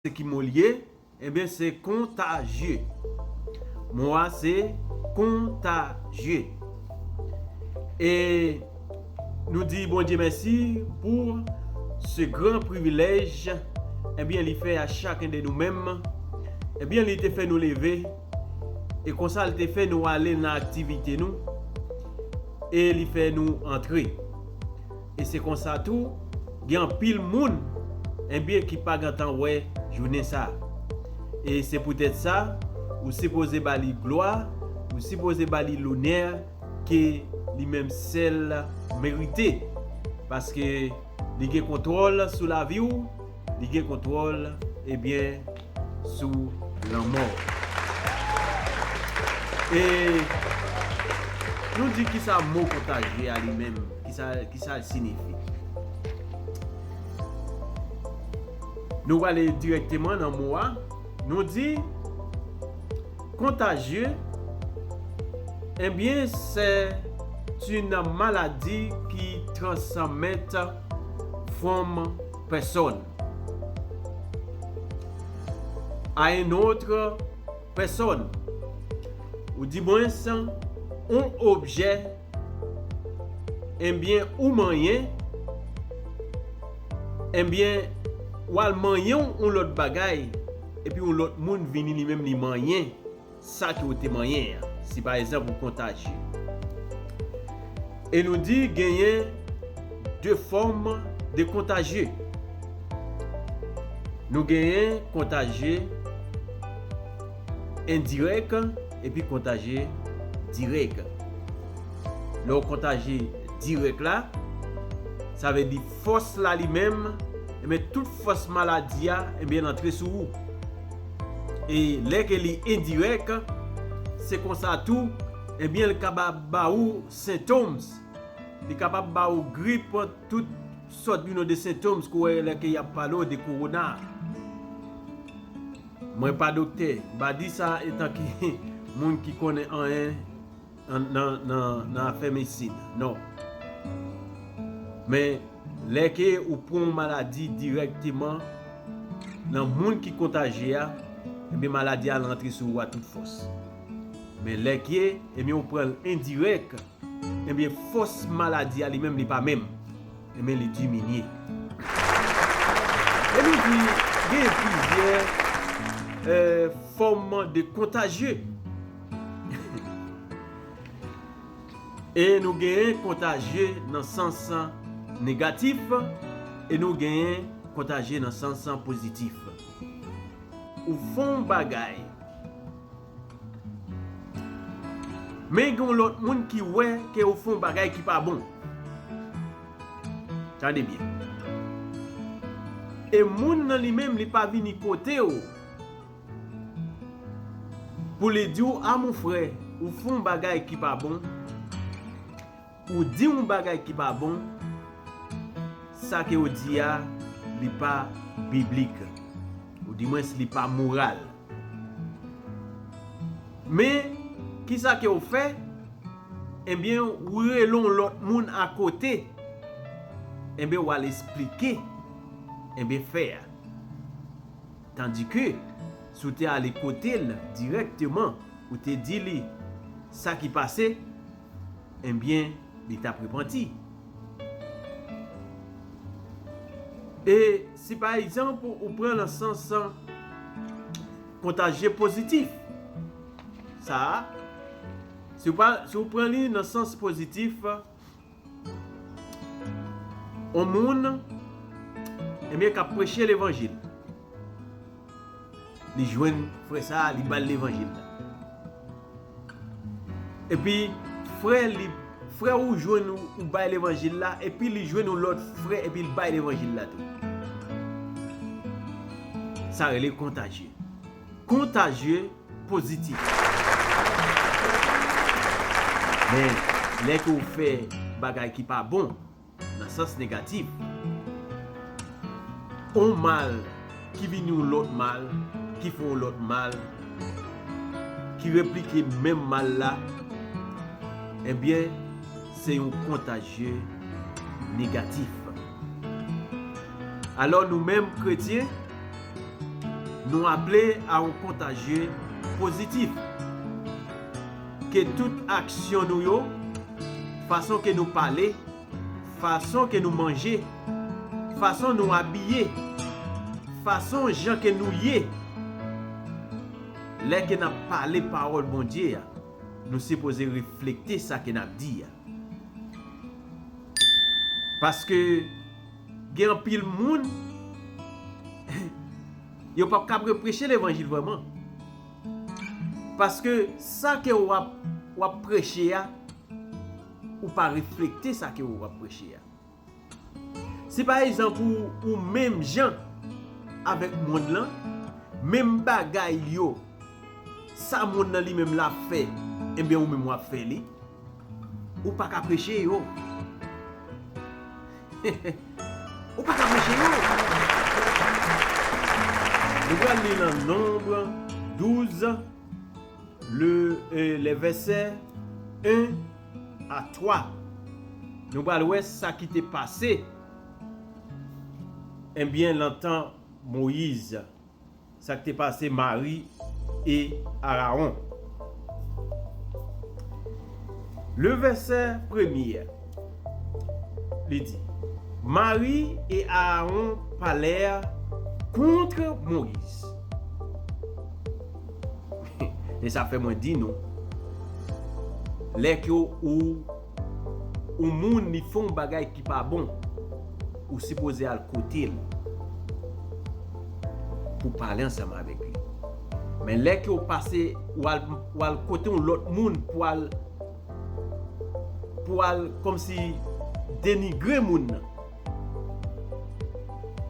Se ki mo li ye? Enben se kontajye. Mo a se kontajye. E nou di Bondye mèsi pou se gran privilèj enbyen li fè a chaken de nou menm. Enbyen li te fè nou leve e konsa li te fè nou ale nan aktivite nou e li fè nou antre. E se konsa tou, gen anpil moun, enben, ki pa gentan wè jounen sa a. E se poutèt sa, ou sipoze ba li glwa, ou sipoze ba li lonè ke li menm sèl merite. Paske, li gen kontwòl sou lavi ou. Li gen kontwòl e byen sou lanmò. E nou di kisa mo kontajye a li menm, kisa l sinifi. Nou wale direkteman nan mo a, nou di kontajye e byen se ti nan maladi ki transanmèt fwòm. personne à un autre personne ou di mwen san on objè enbyen ou manyen enbyen ou al manyen on lòt bagay epi on lòt moun vini li menm li manyen sa ke ou te manyen an. Si pa egzanp ou kontajye. E nou di genyen 2 fòm de kontajye. Nou genyen kontajye endirèk epi kontajye dirèk. Lè ou kontajye dirèk la, sa vle di fòs la li menm, enben tout fòs maladi a, enben l antre sou ou. E lè ke li endirèk, se konsa tou, ebyen li kabab ba ou symptoms. Li kabab ba ou grip, tout sòt you non de symptoms ke w wè lè ke y ap pale w de Corona. Mwen pa doktè, m pa di sa etan ki moun ki konnen anyen. nan afè medsin non men lè ke ou pran yon maladi dirèkteman nan moun ki kontajye a ebyen maladi a al rantre sou ou a tout fòs men lè ke ebyen ou pran l endirèk ebyen fòs maladi a li menm li pa menm ebyen li diminye ebyen tou genyen plizyè fòm de kontajye. E nou genyen kontajye nan sans negatif e nou genyen kontajye nan sans pozitif. Ou fè yon bagay, men gen yon lòt moun ki wè ke ou fè yon bagay ki pa bon. Tande byen. E moun nan li menm li pa vini kote ou. Pou li di w a mon frè ou fè yon bagay ki pa bon, ou di yon bagay ki pa bon, sa ke w di a li pa biblik, ou di mwens li pa moral. Men, ki sa ke w fè? Enben, ou rele yon lòt moun akote, enben w al esplike, enben fè a. Tandi ke, si w te ale kote l dirèkteman, ou te di li sa ki pase, enbyen, li t ap repanti. E si pa egzanp ou pran l an sans kontajye pozitif, sa a, si w pran li nan sans pozitif, On moun ebyen kap preche levanjil. Li jwenn frè sa li bal levanjil la. Epi frè li frè ou jwenn ou bay levanjil la epi li jwenn on lòt frè epi l bay levanjil la tou. Sa rele kontajye. Contagieux Positif. Men, lè ke ou fè bagay ki pa bon, nan sans negatif, on mal ki vini yon lòt mal, ki fè yon lòt mal, ki replike menm mal la, enbyen, se yon contagieux negatif. Alò, nou menm kretyen, Nou aple a yon kontajye pozitif. Ke tout aksyon nou yo, fason ke nou pale, fason ke nou manje, fason nou abiye, fason jan ke nou ye, lè ke nap pale pawòl Bondye a, nou sipoze reflekte sa ke nap di a. Paske. Gen anpil moun yo pap kab repreche levanjil vreman. Paske sa ke ou ap ou ap preche a ou pa reflekte sa ke ou ap preche a. Si pa egzanp ou ou menm jan avèk moun lan, menm bagay yo sa moun lan li menm la ap fè enben ou menm wap fè li, ou paka preche yo. Ou pa ka preche yo. Nou pral li nan Nonb 12, lè vèsè 1 a 3. Nou pral wè sa ki te pase, enbyen, lan tan Moyiz. Sa k te pase Mari e Arawon. Le vèsè premye, li di, Mari e Arawon palè kontre Moyiz. E sa fè mwen di nou, lè ke ou. Ou moun li fon bagay ki pa bon ou sipoze al kotel pou pale ansanm avèk li men lè ke ou pase ou al kote yon lòt moun pou al pou al kòmsi denigre moun nan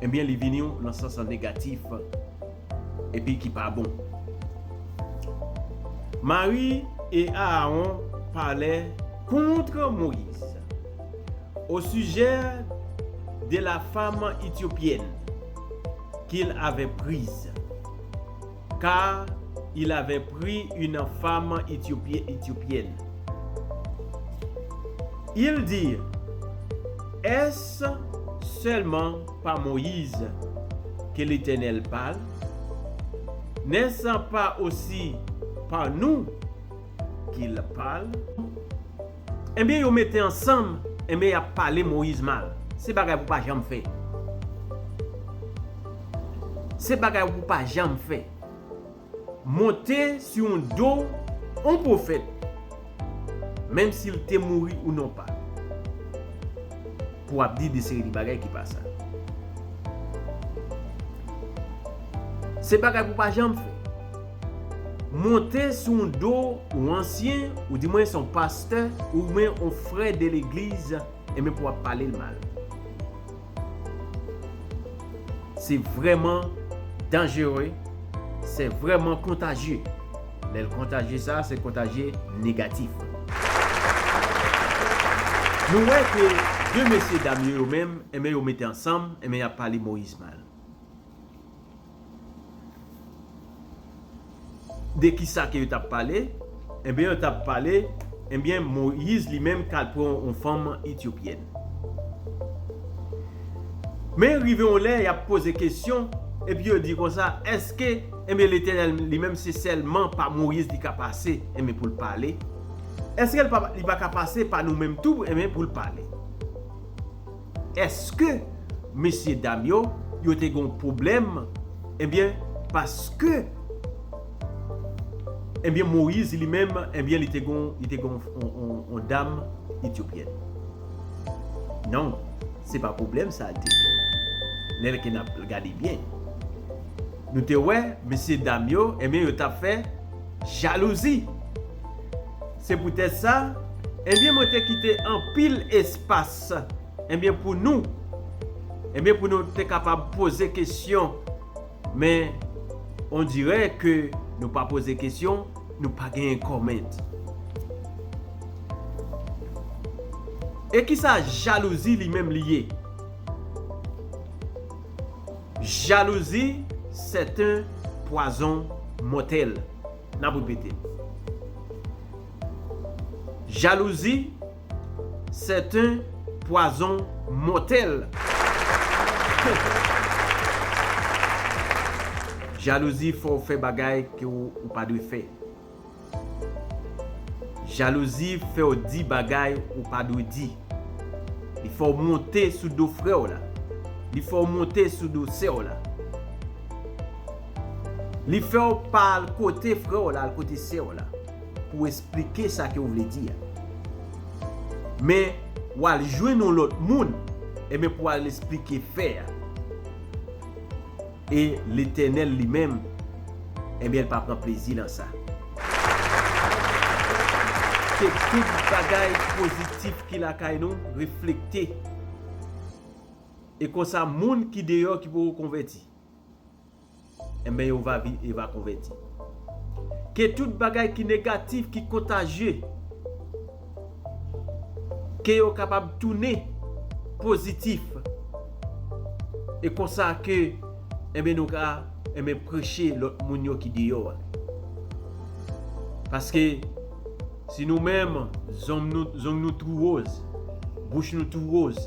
ebyen li vini nan sans an negatif. Epi ki pa bon. Mari e Aaron palè kontre Moïse o sijè de la fam Ethiopienne kil avè priz, car il avè pri une fam Ethiopienne. Il di, Est-ce seulement Pa Moïse ke Letènèl pal, nen sa pa osi pa nou ke L pal. Enben, yo mete ansanm, enben y ap pale Moïse mal. Se bagay pou pa janm fè. Se bagay pou pa janm fè. Monte sou yon do yon pwofèt, menm si l te mouri ou non pa, pou w ap di de seri de bagay ki pa sa. Se bagay pou w pa janm fè. Monte sou yon do yon ansyen, ou di mwen se yon pastè, oubyen yon frè de legliz, enben pou w ap pale l mal. Se vreman danjere, se vreman kontajye. Lè l kontajye sa, se kontajye negatif. Nou wè ke 2 mesye dam yo yo menm, enben yo mete ansanm, enben y ap pale Moïse mal. De ki sa ke yo t ap pale? Enben, yo t ap pale, enben, Moyiz li menm ka l pran yon fanm etyopyèn. Men, rive yon lè, y ap poze kesyon, epi yo di konsa, èske, enben, Letènèl li menm se sèlman pa Moyiz li ka pase, enben, pou l pale? Èske li pa ka pase pa nou menm tou, enben, pou l pale? Eske mesye dam yo yo te gon pwoblèm ebyen paske ebyen moyiz li menm ebyen li te gon li te gon on dam etyopyèn non se pa pwoblèm sa li te gen lè ke nap gade byen nou te wè mesye dam yo ebyen yo tap fè jalouzi se pou tèt sa ebyen mwen te kite anpil espas Ebyen pou nou Ebyen pou nou te kapab poze kesyon men ondire ke nou pa poze kesyon nou pa gen comment E kisa jalouzi li menm li ye Jalouzi c'est un poison mortel Nap repete l Jalouzi Sèten pwazon mòtèl. Jalouzi fè w fè bagay ke w ou pa dwe fè. Jalouzi fè w di bagay ou pa dwe di. Li fè w monte sou do frè w la. Li fè w monte sou do sè w la. Li fè w pa al kote frè w la, al kote sè w la. pou w esplike sa ke w vle di a. Men, w al jwenn yon lòt moun, enben pou w al esplike fè a. E Letènèl li menm, enben l pa pran plezi nan sa. Ke tout bagay pozitif ki lakay nou reflekte. E konsa moun ki deyò ki poko konvèti. Enben yo va vin e va konvèti. Ke tout bagay ki negatif, ki kontajye, ke yo kapab tounen pozitif. E konsa ke enben nou ka enben preche lòt moun yo ki deyò a. Paske si nou menm zong nou tou woz, bouch nou tou woz.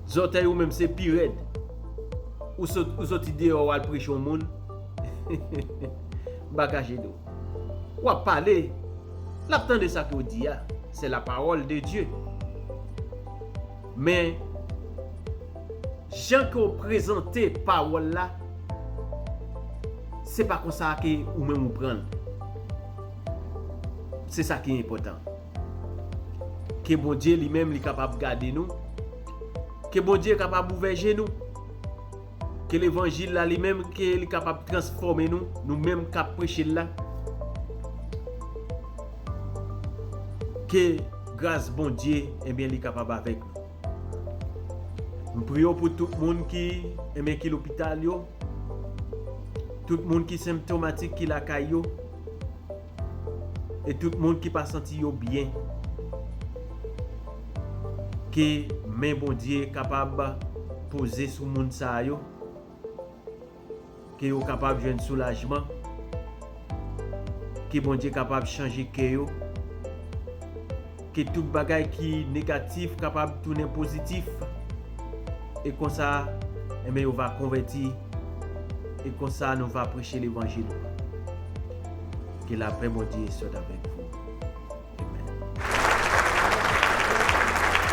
Zòtèy ou menm se pi rèd. Ou soti deyò wal preche yon moun. Bagage do. Wap pale. Lap tande sa ke ou di a. Se la parole de Dieu. Men. Jan ke ou prezante parole la. Se pa konsa ke ou menm ou pranl. Se sa ki enpotan. Ke Bondye li menm li kapab gade nou. Ke Bondye kapab ouvè je nou. Ke levanjil la li menm ke li kapab transfòme nou, nou menm kap preche l la. Ke gras Bondye enben li kapab avèk nou. M priye w pou tout moun ki enben ki lopital yo, tout moun ki senptomatik ki lakay yo. E tout moun ki pa santi yo byen. Ke men Bondye kapab poze sou moun sa yo. Ke yo kapab jwenn soulajman. Ke Bondye kapab chanje kè yo. Ke tout bagay ki negatif kapab tounen pozitif, e konsa, enben yo va konvèti, e konsa nou va preche levanjil ou an. Ke lapè Bondye sot avèk vou. Amen.